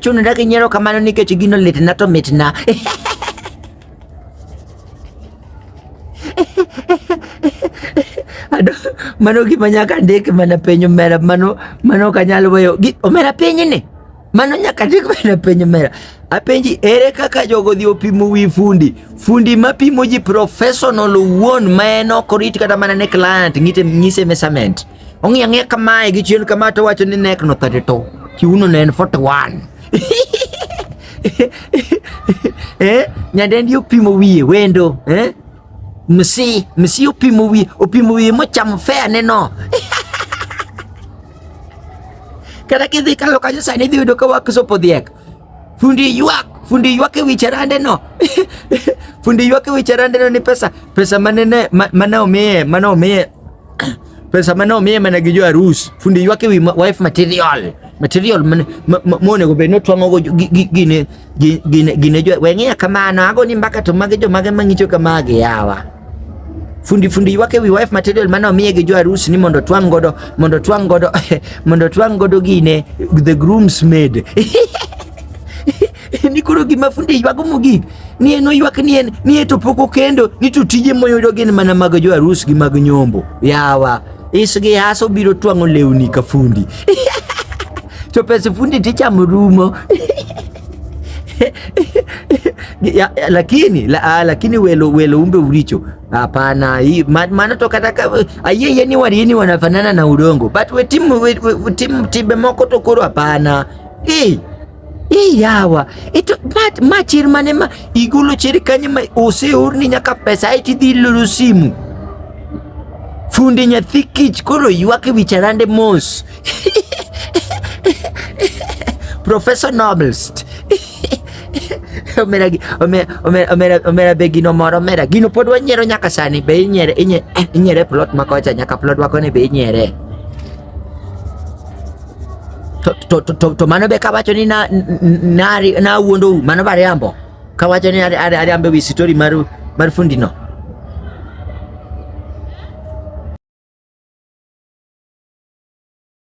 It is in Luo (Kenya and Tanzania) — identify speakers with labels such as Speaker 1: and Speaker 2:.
Speaker 1: Chuno ndake nyero kamano nikech gino litna to mitna. Ado, mano gima nyaka ndik mana penyo mera mano mano kanyalo weyo. Omera penyi ni. Mano nyaka chik bende penjo mera. Apenji ere kaka jogo dhi opimo wi fundi? Fundi ma pimo ji professional owuon ma en ok orit kata mana ne client ngite ngise measurement. Ong'i ang'e kamae gi chien kama to wacho ni neck no 32. Kiuno ne en 41. eh, nyadendi opimo wiye wendo, eh? Msi, msi opimo wiye, opimo wiye mochamo fair neno. Kata kidhi kalo kanyo sani idhi yudo ka wak sopo dhiek. Fundi ywak, fundi ywak e wi charande no. fundi ywak e wi charande no ni pesa, pesa manene mane omiye, mane omiye pesa mane omiye mana gi jo arus. Fundi ywak e wi wife material. Material mane mone go be no twang'o go gine gine gine jo weng'e kamano ago ni mbaka to mage jo mage mang'icho kamage yawa. fundi fundi wake wi wife material mane omiye gi jo arus ni mondo twang' godo mondo twang' godo mondo twang' godo gine the groom's maid ni koro gima fundi ywago mogik ni en oywak ni en ni e to pok okendo ni to tije moyudo gin mana mag jo arus gi mag nyombo yawa isgi hasa obiro twang'o lewni ka fundi to pes fundi tichamo rumo ya, ya, lakini la, ah, lakini welo welo umbe ulicho hapana, hii maana tokataka aye yani walini wanafanana na udongo but we timu we, we, we timu tibe moko tokoro hapana hii hii yawa ito but machir manema igulo chiri kanyima ose urni nyaka pesa iti dilulu simu fundi nyathi kich koro ywak e wi charande mos Professor Noblest. omera omera omera omera be gino moro omera gino pod wanyiero nyaka sani be inyere inye- eh, inyere plot makocha nyaka plot wakoni be inyere to, to, to, to, to mano be kawacho ni na, n- n- nari- nawuondou mano bariambo Kawacho ni ariambe wi story mar mar fundi no.